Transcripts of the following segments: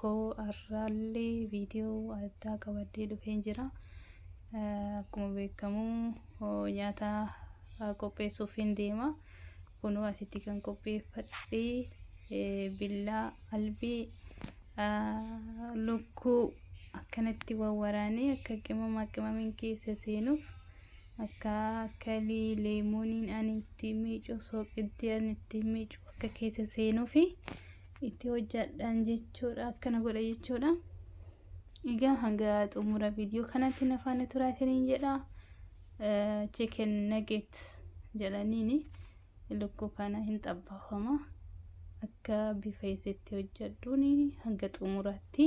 koo har'aallee viidiyoo addaa qabadhee dhufeen jira. Akkuma beekamu nyaata qopheessuuf hin deema. Kunuu asitti kan qopheeffadhee billaa albii lukkuu akkanatti wawwaraanee akka qimama qimamiin keessa seenuuf akka kalii leemooniin ani ittiin miicu sooqiddii ani ittiin miicu akka keessa seenuufi. itti hojjadhaan jechuudha akkana godha jechuudha egaa hanga xumura viidiyoo kanatti na faana turaa isiniin jedha chicken nugget jedhaniini lukkuu kana hin xabbaafama akka bifa isitti hojjadhuun hanga xumuraatti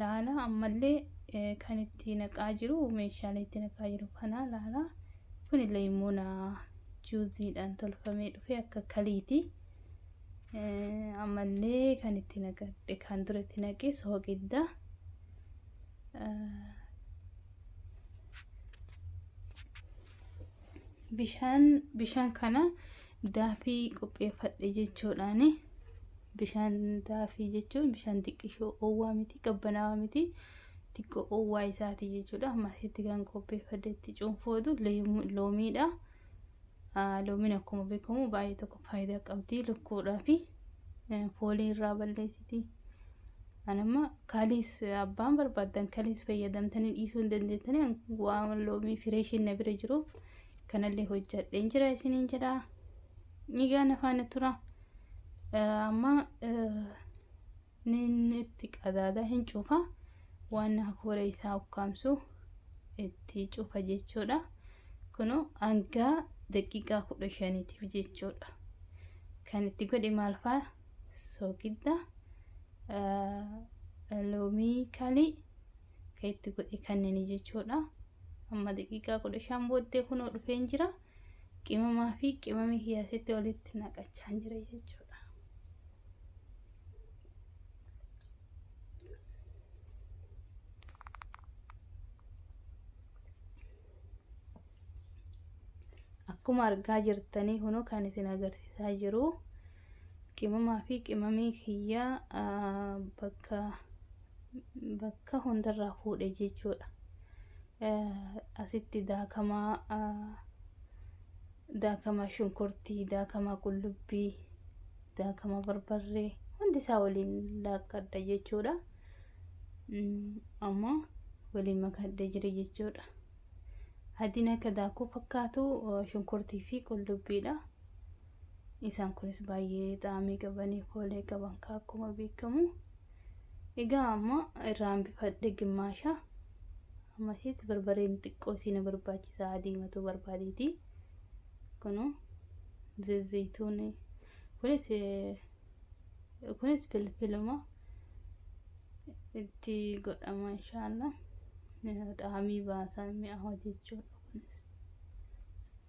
laala ammallee kan itti naqaa jiru meeshaalee itti naqaa jiru kana laala kun leemona juuziidhaan tolfamee dhufe akka kaliiti ammallee kan itti naqadhe kan dura itti naqe sooqidda bishaan bishaan kana Daafii qopheeffadhe jechuudhaan bishaan daafii jechuun bishaan xiqqishoo oowwaa miti qabbanaawaa miti xiqqoo oowwaa isaati jechuudha. Maasitti kan qopheeffadhe itti cuunfootu loomiidha. Loomiin akkuma beekamu baay'ee tokko faayidaa qabdi lukkuudhaa fi foolii irraa balleessiti. Anamma kaaliis abbaan barbaadan kaliis fayyadamtanii dhiisuu hin dandeettanii waan loomii fireeshiin na bira jiruuf. kanallee hojjadheen jira isiniin jedha egaa na faana tura amma nin itti qadaada hin cufa waan hafuura isaa ukkaamsu itti cufa jechuudha kunu hanga daqiiqaa kudha shaniitiif jechuudha kan itti godhe maal fa'a soogidda loomii kalii ka itti godhe kannini jechuudha amma daqiiqaa kudha shan booddee kunoo dhufeen jira qimamaa fi qimami kiyaasitti walitti naqachaan jira jechuudha akkuma argaa jirtanii kunoo kan isin agarsiisaa jiru Qimamaa fi qimamii kiyya bakka bakka hundarraa fuudhe jechuudha. Asitti daakamaa daakamaa shunkurtii, daakamaa qullubbii, daakamaa barbarree hundi isaa waliin laakkadha jechuudha. Amma waliin makadhee jira jechuudha. Adiin akka daakuu fakkaatu shunkurtii fi qullubbiidha. Isaan kunis baay'ee xaamii qabanii foolee qaban ka akkuma beekamu. Egaa amma irraa hambifadhe gimmaasha. Amma isheetti barbareen xiqqoo isii na barbaachisa adiimatuu barbaadeeti. Kunu zezzeeytuun kunis kunis filfiluma itti godhama inshaallah. Xaamii baasaa mi'aawa jechuudha kunis.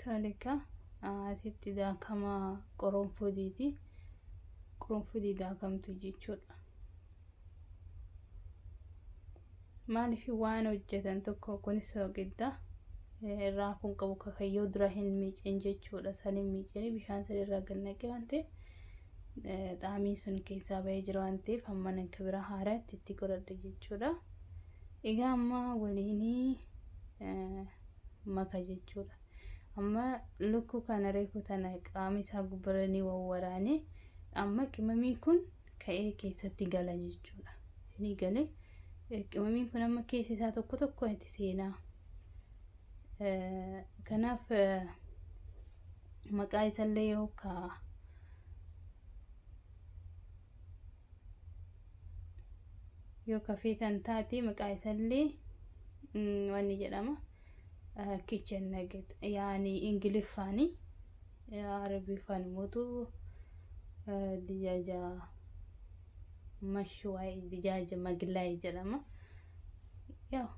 Toleka asitti daakama qoronfudiiti. Qoronfudii daakamtu jechuudha. Maaliif waan hojjetan tokko kunis soogidda irraa kun qabu kakayyoo dura hin miicin jechuudha. San hin miicin bishaan sadi irraa gannaqee waan ta'eef xaamii sun keessaa ba'ee jira waan ta'eef amma kibira haaraa itti itti godhadha jechuudha. Egaa amma waliin maka jechuudha. Amma lukkuu kana reefu tana qaama isaa gubbara ni wawwaraane amma qimamiin kun ka'ee keessatti gala jechuudha. Isinii galee qimamiin kun amma keessi isaa tokko tokko itti seenaa. Kanaaf maqaa isallee yoo ka yoo ka feetan taate maqaa isallee waan ni jedhama kitchen nugget yaani ingiliffaani arabiffaan mootu dijaaja mashwaay dijaaja maglaay jedhama yaa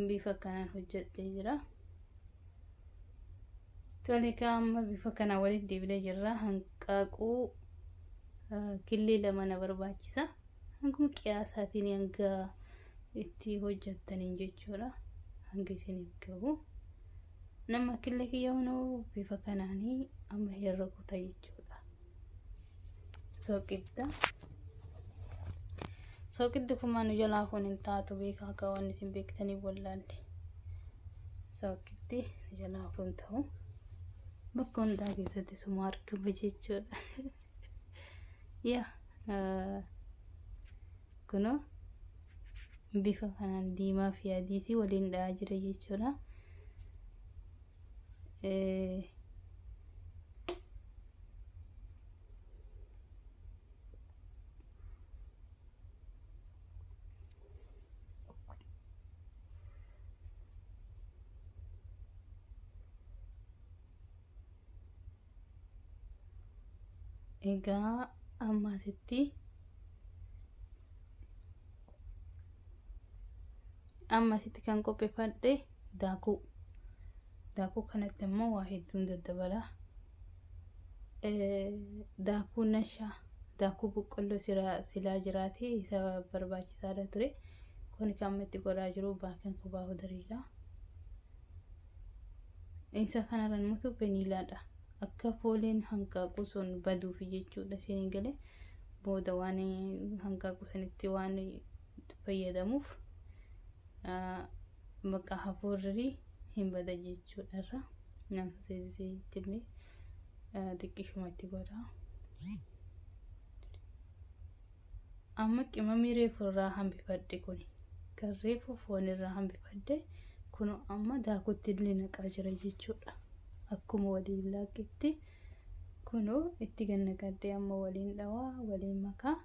bifa kanaan hojjedhee jira. Tolikaa amma bifa kana walitti deebinee jirra. Hanqaaquu killee lama na barbaachisa. Hanguma qiyaasaatiin hanga itti hojjettaniin jechuudha. Hanga isiniif gahu. Nama killee kiyya hunoo bifa kanaanii amma herra kuta jechuudha. Soqidda. Soqiddi kun maanu jalaa kun hin taatu beekaa akka waan isin beektanii wallaalle. Soqiddi jalaa kun ta'u bakka hundaa keessatti suma argama jechuudha. ya kuno bifa kanaan diimaa fi adiitii waliin dha'aa jira jechuudha. egaa amma asitti amma asitti kan qopheeffadhe daakuu daakuu kanatti immoo waa hedduun daddabala daakuu nashaa daakuu boqqolloo silaa jiraatee isa barbaachisaadha ture kun kan amma itti godhaa jiru baakin kubaa hudariidha. Isa kanarraan immoo vaniilaadha. Akka fooleen hanqaaquu sun baduuf jechuudha isin galee booda waan hanqaaquu sanitti waan fayyadamuuf bakka hafuurri hin bada jechuudha irra nama seesisittillee xiqqishumatti godha. Amma qimamii reefu irraa hambifadhe kun kan reefu foon irraa hambifadhe kun amma daakutti illee naqaa jira jechuudha. Akkuma waliin laaqqitti kunoo itti gannaqadhee amma waliin dhawaa waliin makaa.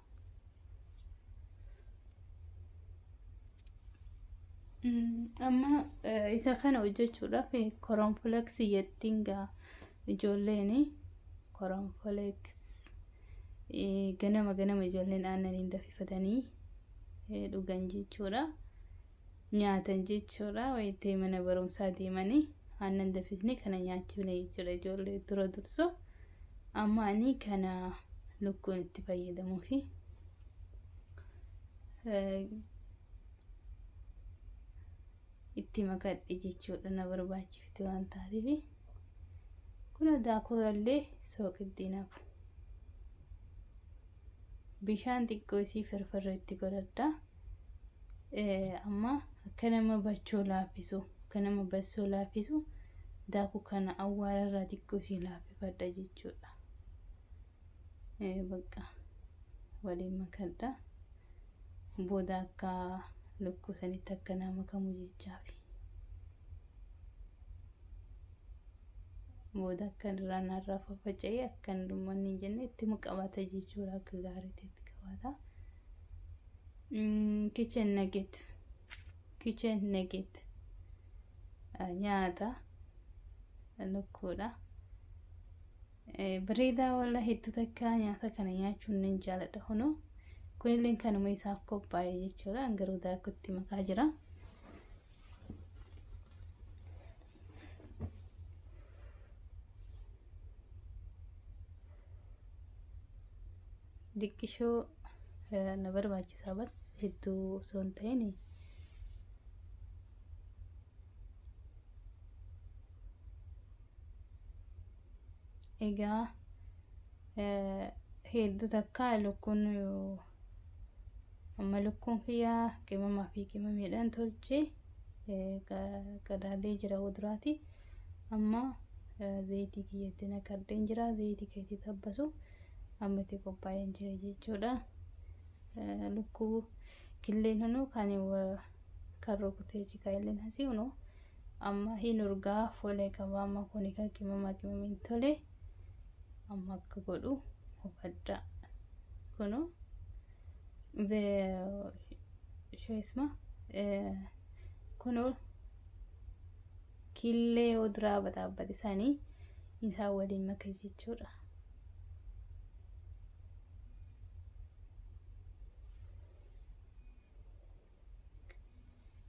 Amma isa kana hojjechuudhaaf koronfleksii jettiin gaa ijoolleen koronfleksii. ganama ganama ijoolleen aannaniin dafifatanii dhugan jechuudha. Nyaatan jechuudha. Wayitee mana barumsaa deemanii aannan dafisnee kana nyaachifne jechuudha ijoollee dura durso. Amma ani kana lukkuun itti fayyadamuu fi itti makadhe jechuudha na barbaachifte waan taateef. Kun adaa kurallee sooqiddiin hafu. Bishaan xiqqoo isii firfirri itti godhadha. Amma akka nama bachoo laaffisu akka nama bassoo laaffisu daakuu kana awwaara irraa xiqqoo isii laaffifadha jechuudha. Bakka waliin makadha. Booda akka lukkuu sanitti akka naa makamu jechaafi. Booda akka irraa narraa faffaca'ee akka hin dhummanne hin jenne itti qabata jechuudha akka gaariitti itti qabata. Kitchen nugget. Kitchen nugget. Nyaata lukkuudha. Bareedaa walla hedduu takka nyaata kana nyaachuun nan jaaladha kunoo kunillee kanuma isaaf qophaa'e jechuudha an garuu daakutti makaa jira. Diqqishoo na barbaachisaa bas hedduu osoo hin ta'in Egaa hedduu takka lukkuun amma lukkuun kiyyaa qimamaa fi qimamiidhaan tolche qadaadee jira wuduraati. Amma zayitii kiyyatti naqadheen jira zayitii keetii tabbasu amma itti qophaa'een jira jechuudha. Lukkuu killeen hunuu kan kan rukutee cikaa illeen hasii hunuu. Amma hin urgaa folee qaba amma kuni kan qimama qimamiin tole amma akka godhu hubadha kunu ze shoisma kunu killee yoo duraa bataabbate sanii isaa waliin maka jechuudha.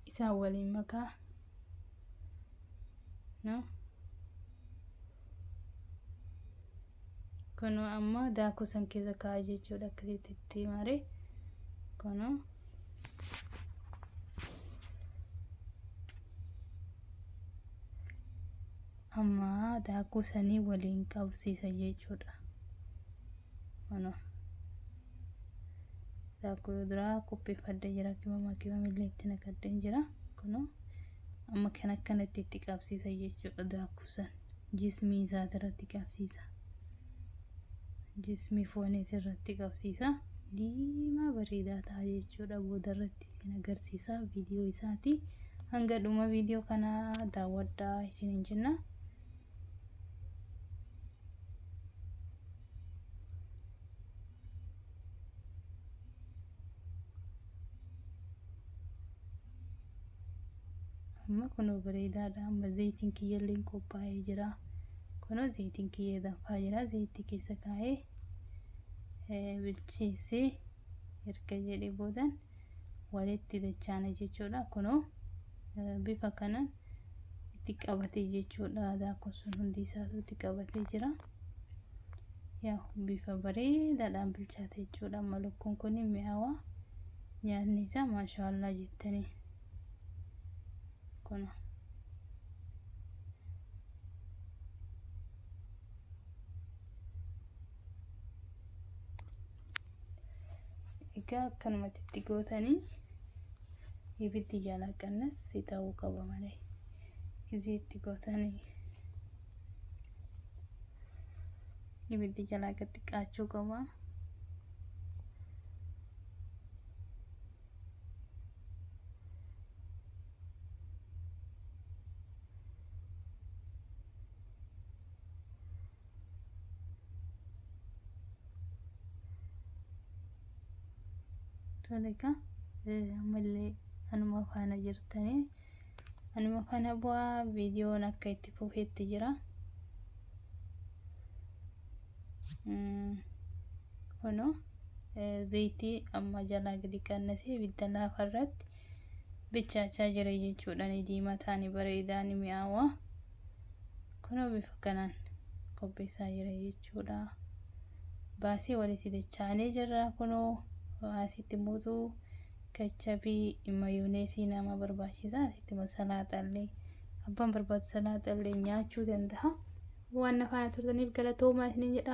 isaan waliin makaa no kunoo amma daakuu san keessa kaa'aa jechuudha akkasitti itti maaree kunoo amma daakuu sanii waliin qabsiisa jechuudha kunoo daakuu duraa qopheeffadhee jira kima makiwam illee itti naqadheen jira kunoo amma kan akkanatti itti qabsiisa jechuudha daakuu san jismii isaati irratti qabsiisa jismii fooniiti irratti qabsiisa diimaa bareedaa ta'a jechuudha booda irratti isin agarsiisa viidiyoo isaati hanga dhuma viidiyoo kanaa daawwadhaa isiniin jenna. amma kunoo bareedaadha amma zayitiin kiyyalleen qophaa'ee jira kunoo zayitiin kiyya danfaa jira zayitii keessa kaa'ee eh, bilcheessee erga jedhee boodan walitti dachaana jechuudha kunoo eh, bifa kanaan itti qabatee jechuudha daakuun sun hundi isaatu itti qabatee jira yaa bifa bareedaadhaan bilchaate jechuudha amma lukkuun kun mi'aawaa nyaanni isaa maashaallaa jettanii kun egaa akkanumatti itti gootanii ibiddi jalaa qannas si ta'uu qaba malee gizii itti gootanii ibiddi jalaa gad xiqqaachuu qaba. tole egaa eh, ammallee anuma faana jirtanii anuma faana bu'aa viidiyoon akka itti fufeetti jira Mm, kunoo eh, zayitii amma jalaa gadi qannasee ibidda laafa irratti bichaachaa jira jechuudha ni diimataa ni bareedaa ni mi'aawaa Kunoo bifa kanaan qopheessaa jira jechuudha. Baasii walitti dachaanee jirra kunoo asitti muuxuu kachabii mayooneesii nama barbaachisa asitti salaaxallee abbaan barbaadu salaaxallee nyaachuu danda'a. Waan na faana turtaniif galatoomaa isiniin jedha.